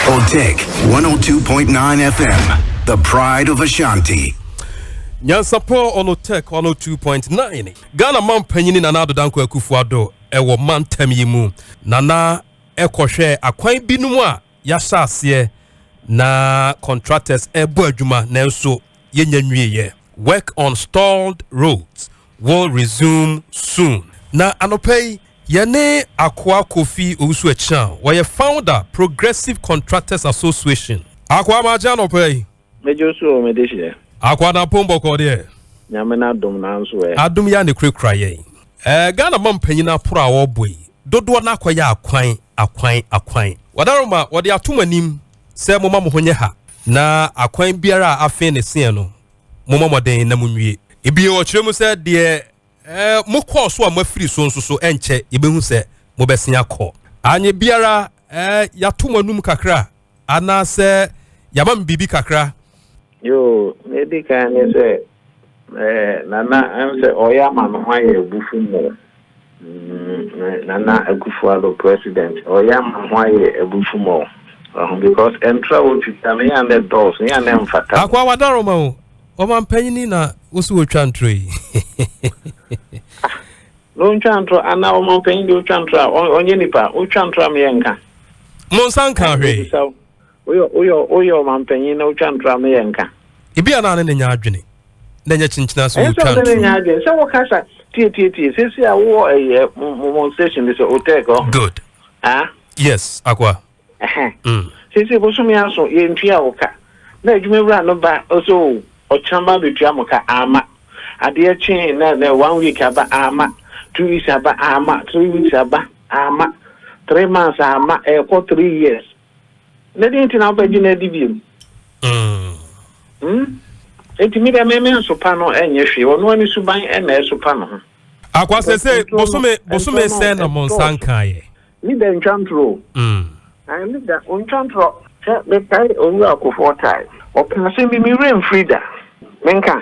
Otek 102.9 FM, the pride of Ashanti. Nyansapɔn Onotek 102.9 Ghana man panyini Nana Addo Dankwa Akufo-Addo ɛwɔ mantam yi mu Nana ɛkɔhwɛ akwan binom a yɛahyɛ aseɛ na contractors ɛbɔ adwuma nanso yɛnya nwieɛ work on stalled roads will resume soon. Na anɔpa yi, yɛne Akoa Kofi Owusu Achiang, ɔyɛ founder Progressive Contractors Association. Akoa magye anɔpa yi. Megye wo so o, me dehyeɛ. Akoa Dampong bɔkɔɔ deɛ. Nyame n'adom nanso ɛ. Adom yi ara na ɛkurakura yɛn. Ɛɛ Ghana mampanyin aporo a wɔrebɔ yi, dodoɔ no ara akɔyɛ akwan, akwan, akwan. Wadaroma, wɔde ato mo anim sɛ momma mo ho nyɛ ha. Na akwan biara a afee ne seɛn no, mommɔ mmɔden na monwie. Ebio ɔkyerɛ mu sɛ deɛ eh, mokɔɔ so a moafiri so nso so ɛnkyɛ yɛbɛhu sɛ mobɛsen akɔ. Anyɛ biara eh, yɛato mo anum kakra anaasɛ yɛama mo biribi kakra. Yoo, nea edi kan ne sɛ eh, Nana ɛm sɛ ɔyɛ ama me ho ayɛ abufu mo. Nana Akuffo Addo president ɔyɛ ama ho ayɛ abufu ma o wahu because ɛntra a ɔtwitwa no yɛ a na ɛdɔɔso yɛ a na ɛmfata. Akoa Wadaroma o ɔmampanyini na wosi ɔtwa ntorɔ yi. Ah na ɔntwa ntorɔ anaa ɔmampanyini deɛ ɔtwa ntorɔ a ɔnyɛ nipa ɔtwa ntorɔ a meyɛ nka. Monsa nka hwee. Woyɛ ɔmampanyin na wotwa ntora me yɛ nka. Ebia na ne ne nya adwene na ɛnyɛ kyenkyen ase wɔ otwa ntoro mu. Sɛ wo kasa tietietie sɛsi a wowɔ ɛyɛ mo station bi sɛ otɛk ɔ. Good. Ah. Yes, akoa. Ɛhɛn. Mm. Sɛsi bosome aso yɛ ntua wo ka na adwuma wura no ba ɔsɛ o ɔkyena ba bɛtua mo ka ama adeɛ kyee na na one week aba ama two weeks aba ama three weeks aba ama three months ama ɛkɔ three years. na dɛn nti na wobɛgye no adi biom hmm? nti mi dɛ meme nsopa no ɛnyɛ hwee ɔno ani suban ɛna ɛsopa no ho akwasɛ sɛ bosome bosome sɛ na mo nsa nkaeɛ ne da ntwa ntorɔ hmm. ne da ɔntwa ntorɔ sɛ mekae owura akofoɔ tae ɔpena sɛ mimi werɛ mfiri da menka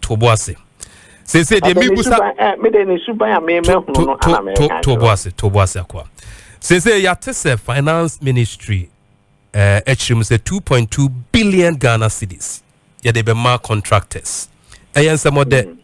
to bo ase sese deɛ mebusa mede ne suban a memɛhunu no ana meka to bo ase to bo ase akoa sese yɛate sɛ finance ministry eh, akyiri mu sɛ 2.2 billion ghana cities yɛde bɛma contractors ɛyɛ nsɛmɔdɛ mm.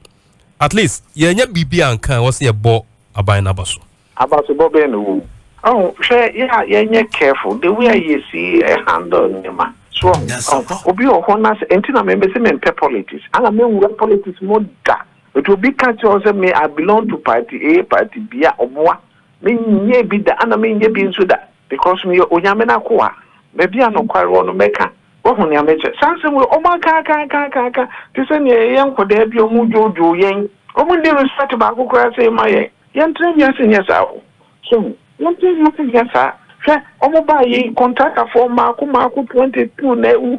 at least yɛnyɛ biribi anka wɔ sɛ yɛbɔ aban no aba so Abasobɔ bɛn na ɔwɔ mu? Ɔho, hwɛ yɛ a yɛnyɛ careful the way a yɛsi handle nneɛma. So ɔho? Ɔho, obi wɔ hɔ na sɛ, ɛnti na me mese mempɛ politics, ana me nwura politics mu da. But obi ka kyerɛ wo sɛ me I belong to party A, party B a, ɔboa. Me nyɛɛ bi da, ana me nyɛ bi nso da, because me yɛ Onyame n'akoa. Baabi a nokware wɔ no mɛka. Wahu nea me kyerɛ? Saa nsɛm wei, ɔmo aka aka aka aka aka, te sɛ nea yɛyɛ nkɔdaa bi a ɔmo dwoodwoo yɛn. Ɔmo nni respect baako koraa sei ma yɛn. Yɛntra wiase nyɛ saa o, so ho, yɛntra wiase nyɛ saa, hwɛ ɔmo baa yi kɔntratafoɔ mmaako mmaako twenty two na awu,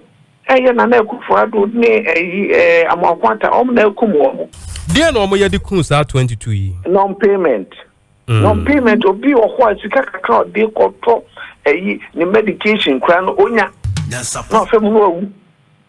ɛyɛ Nana Akufo Addo ne ɛyi ɛɛ Amoako Atta ɔmo na akum ɔmo. Deɛn na ɔmo yɛ de kum saa twenty two yi? Non payment, non payment, obi wɔ hɔ a sika kakra a ɔde kɔtɔ ɛyi ne medication koraa no onya, na ɔfam no awu.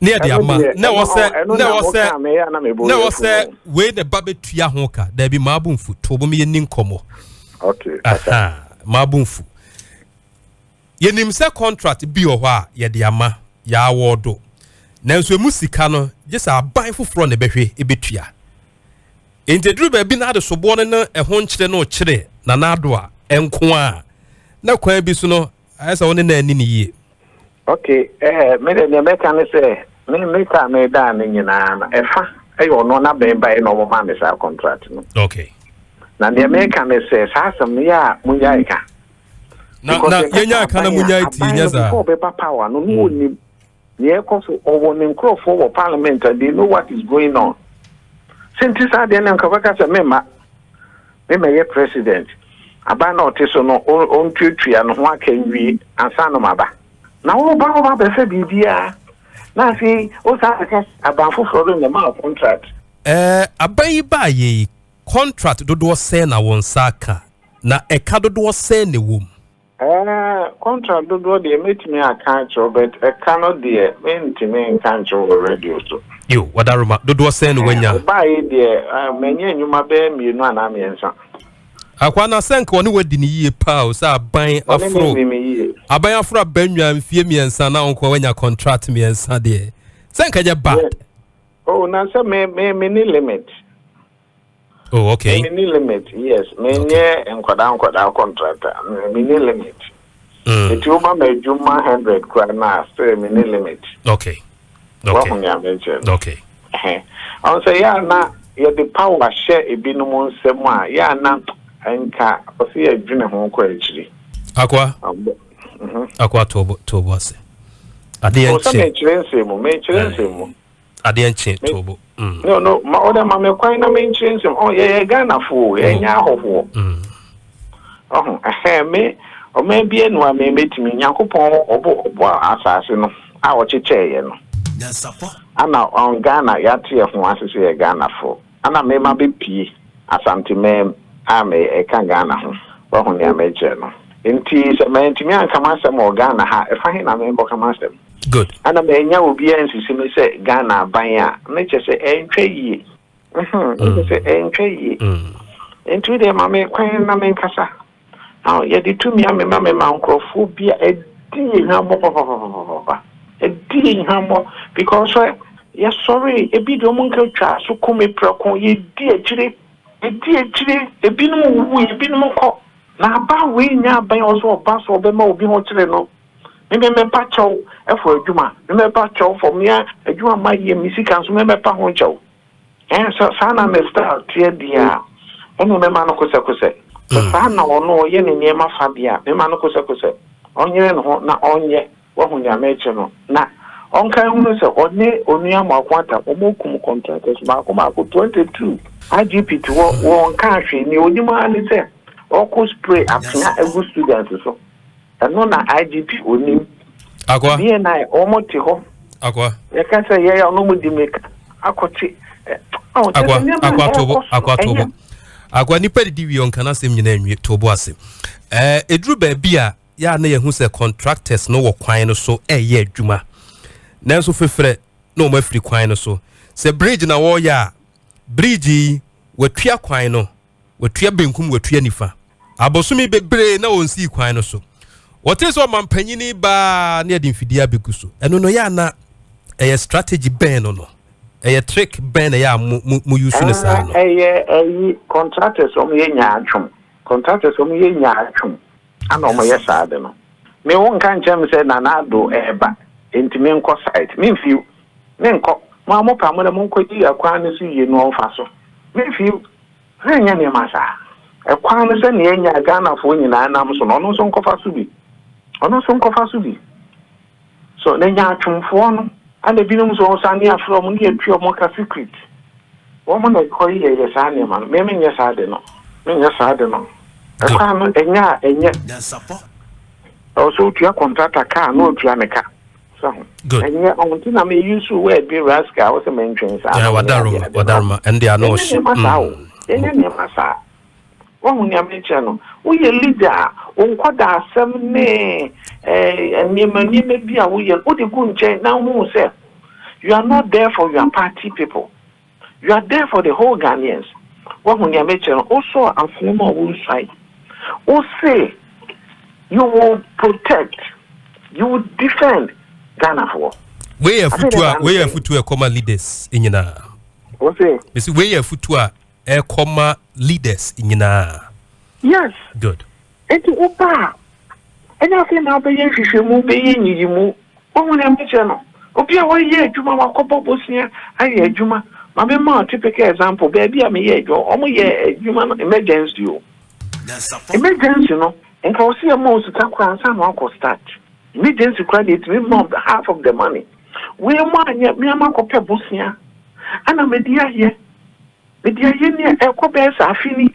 ne yɛde ama na ɛwɔ sɛ na ɛwɔ sɛ na ɛwɔ sɛ wei na ɛba bɛtua ho ka daabi maa bo mfu to bom yɛni nkɔmmɔ maa bo mfu yɛnim sɛ contract bi wɔ hɔ a yɛde ama yɛawɔ do nanso ɛmu sika no gye sɛ aban foforɔ na ɛbɛhwɛ ɛbɛtua nti aduru baabi na adesoboɔ no ne ɛho nkyerɛ no kyerɛ nanaado a ɛnko a na kwan bi so no Ayɛ sɛ wo ne no anni no yie. Okay, ɛɛ, me deɛ deɛ mɛka ne sɛ, me me kaa me daa ne nyinaa no, ɛfa ɛyɛ ɔno na bɛn baeɛ na wɔn maa me saa contract no. Okay. Na deɛ mɛka ne sɛ, saa asɛm no yɛ a mo yɛ ɛka. Na na yɛn yɛ ɛka na mo yɛ ɛti yɛ saa. Before bɛba power no, no wɔn nim. Nea ɛrekɔ so, ɔwɔ ne nkurɔfoɔ wɔ parliament and they know what is going on. Sɛ nti saa deɛ no nka ɔbɛka sɛ memma memmɛyɛ president. Aban na ɔte so no ɔntuatua ne ho aka nwie ansa na maba. Na woba woba abɛfa biribiara na afei wosan abɛka sɛ aban foforɔ no na ɛmaa wo contract. Ɛɛ aban yi baeɛ yi contract dodoɔ sɛn na wo nsa aka na ɛka dodoɔ sɛn na ɛwɔ mu? Ɛɛ contract dodoɔ deɛ mɛtumi aka akyerɛ wo but ɛka no deɛ mentumi nka nkyerɛ wɔ radio so. Yo, Wadaroma, dodoɔ sɛn na wanya? Wobaeɛ deɛ manya nnwuma bɛyɛ mmienu anaa mmiɛnsa. Akwaa no asɛ nka ɔne wadi no yie paa o sɛ aban aforo aban aforo aba nnwa mfie mmiɛnsa na ɔnkoa wanya contract mmiɛnsa deɛ sɛ nka nyɛ bad. Oh, na sɛ me me me ne limit. oh okay me ni limit yes me nye nkwadaa nkwadaa contractor me ni limit mm. eti wo ba ma adwuma hundred kura na still me ni limit okay okay wahu ni amekyɛ no okay ɔn sɛ yɛ ana yɛde power hyɛ ebinom nsɛm a yɛ ana nka ɔsi yɛ dwene ho kɔ akyiri akwa mhm. akwa tobo tobo ase ade yɛn kyɛ ɔsɛ mekyerɛ nsɛm mu mekyerɛ nsɛm mu. adeɛ nkye to bo mm. no no ma ɔdɛ ma me kwan na menkyerɛ nsɛm ɔ yɛyɛ ghanafoɔ yɛnyɛ mm. ahɔhoɔ mm. ɔho ɛhɛn me ɔman bia nu a me mɛtumi nyankopɔn ɔbɔ ɔbɔ asase no a ɔkyekyɛeɛ no ana ɔn ghana yɛateɛ ho ase sɛ yɛ ghanafoɔ Ana me ma bɛ pie Asante man a me ka Ghana ho wahu nea me kyerɛ no nti sɛ mantumi anka m'asɛm wɔ Ghana ha ɛfa he na me kɔka m'asɛm Good. Ana mannya obiara ansisi me sɛ Ghana aban a me kyɛ sɛ ɛntwa yie mm me kyɛ sɛ ɛntwa yie mm nti wo deɛ ma me kwan na me nkasa. Na yɛde tumi amema mema nkurɔfoɔ bi a ɛdi yɛn hwammɔ papapapapapa. Ɛdi yɛn hwammɔ because sɛ yɛsɔre ebi deɛ wɔn nka twaa so kum me prɛko yɛdi akyire yɛdi akyire ebinom wuwu ebinom kɔ na aba wei nya abɛn wɔ so ɔba so ɔbɛma obi ho kyerɛ no memɛmɛpa kyɛw ɛfɔ adwuma memɛpa kyɛw fɔ mmea adwuma ma yɛ me sika nso memɛpa ho kyɛw. Ɛn, sɛ saa na ne style teɛ deɛ a, ɛnneɛ mɛma no kosɛkosɛ. Sɛ saa na ɔno ɔyɛ ne nneɛma fa deɛ a, mɛma no kosɛkosɛ. Ɔnyere ne ho na ɔnyɛ, wahu nea merekye no. Na ɔnka nhunu sɛ ɔne Onua Mako Atam, wɔkum contractors mmaako mmaako, 22. IGP te hɔ, ɔnkaa hwee. Nea ɔnim ara ne sɛ ɔrekɔ spray atea agu students so. Ɛno na IGP onim. Akwa. BNI wɔn te hɔ. Akwa. Yɛka sɛ yɛyɛ ɔno mu di meka akɔkye. Akwa akwa tobo akwa tobo akwa nipa didi wie ɔnka n'asɛm nyinaa nwie tobo ase. Ɛɛ eduru baabi a yɛ a na yɛhu sɛ contractors no wɔ kwan no so ɛyɛ adwuma nanso fefrɛ na wɔn afiri kwan no so sɛ bridge na wɔreyɛ a bridge yi wɔatua kwan no Watua benkum, watua nifa. Abosome bebree na ɔnsii kwan no so. Wɔtee sɛ ɔmampanyini baa ne ɛde mfidie abɛgu so. Ɛno no yɛ ana ɛyɛ strategy bɛn no no? Ɛyɛ trick bɛn na ɛyɛ a mo mo mo yusu no saa no? Ɛyɛ ɛyi contractors wɔn yɛ nyaatwom. Contractors wɔn yɛ nyaatwom ana wɔn yɛ saa de no. Me wo nka nkyɛn mi sɛ nana ado ɛɛba nti me nkɔ site me nfiw me nkɔ mo a mo pa mo na mo nkɔ yi akwan no so yie no ɔnfa so me nfiw. Yɛnyɛ nneɛma saa. Ɛkwan no sɛ nea anya a Ghanafoɔ nyinaa nam so no, ɔno nso nkɔfa so bi. Ɔno nso nkɔfa so bi. So na nyaatwomfoɔ no, ɛna ebinom nso wɔn sane afrɛ wɔn ne yɛtua wɔn ka secret. Wɔn na ɛkɔ yi yɛyɛ saa nneɛma no. Me menyɛ saa de no. Menyɛ saa de no. Ɛkwan no ɛnyɛ a ɛnyɛ. Ɛwɔ sɛ wotua kɔntrata ka a na ɔtua ne ka. So ho. Good. Ɛnyɛ ɔmo ti na mi use word bi rascal ɔsɛ mɛ ntwɛn saa. Ɛɛ wadaroma wadaroma ɛnde ano ɔso. Ɛnyɛ nneɛma saa o. Ɛnyɛ mm. nneɛma saa. Wɔn ho nneɛma kyerɛ no. Woyɛ leader a wonkɔ da asɛm ne ɛɛ eh, nneɛma nneɛma bi a woyɛ wode gu nkyɛn na wohu sɛ you are not there for your party people. You are there for the whole Ghanaians. Woahu nea mekyerɛ no? Wosɔɔ afena mu a wonsuae. Wose you will protect, you will defend Ghanafoɔ. Wei yɛ afutuo a wei yɛ afutuo a ɛkɔ ma leaders nyinaa. Wose. Mesi wei yɛ afutuo a ɛkɔ ma leaders nyinaa. Yes. Good. Enti woba a, ɛnyɛ afei na wobɛyɛ nhwehwɛmu, wobɛyɛ nyiyimu. Woahu nea mekyerɛ no? Obi a wayɛ adwuma, wakɔbɔ bosea ayɛ adwuma. Ma memma wo typical example, baabi a meyɛɛ adwuma, wɔyɛ adwuma no emergency o. Emergency no, nka wɔse yɛma wo sika koraa ansa na woakɔ start. Emergency koraa deɛ, ɛtumi ma wo half of the money. Wei mpo anyɛ, me ara makɔpɛ bosea, ɛna mede ayɛ. Mede ayɛ ni a, ɛrekɔ bɛyɛ sɛ afe ni.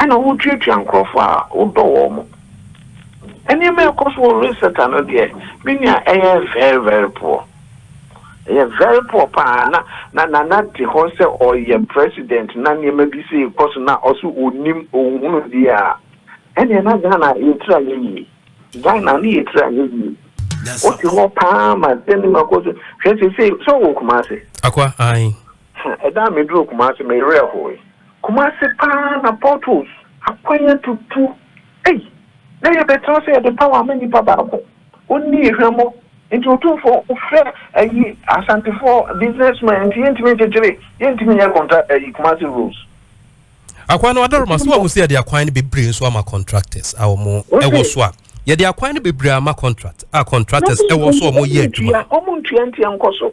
Ɛna wotuatua nkurɔfo a wodɔ wɔn mo. Nneɛma a ɛkɔ so wɔ Lusaka no deɛ, me nua, ɛyɛ very very poor. Ɛyɛ very poor paa. Na na Nana te hɔ sɛ ɔyɛ president na nneɛma bi sei rekɔ so na ɔso ɔnnim, ɔnhunu biara. Ɛnneɛ na Ghana yɛtiri anyɛ yie. Ghana ne yɛtiri anyɛ yie. Wote hɔ paa ma sɛ nneɛma kɔ so. Hwɛ seesei, sɛ wowɔ Kumasi? Akwa, ae. Hɛ, ɛda a meduruu Kumase, me werɛ hoe. Kumase paa na potholes, akwan atutu, ei, na yɛbɛtena sɛ yɛde power ama nipa baako, ɔnni yɛ hwammɔ, nti Otumfoɔ frɛ ayi Asantefoɔ businessmen nti yɛntumi nkyekyere, yɛntumi nyɛ contract ayi Kumase roads. Akwan no Adaroma, so wahu sɛ yɛde akwan no bebree nso ama contractors a wɔn ɛwɔ so a, yɛde akwan no bebree ama contract a contractors ɛwɔ so a wɔn yɛ adwuma. Wɔntua ntua ntia nkɔso.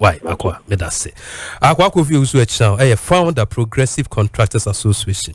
Wai Akoa, meda ase. Akoa Kofi Owusu Akyinao yɛ founder Progressive Contractors Association.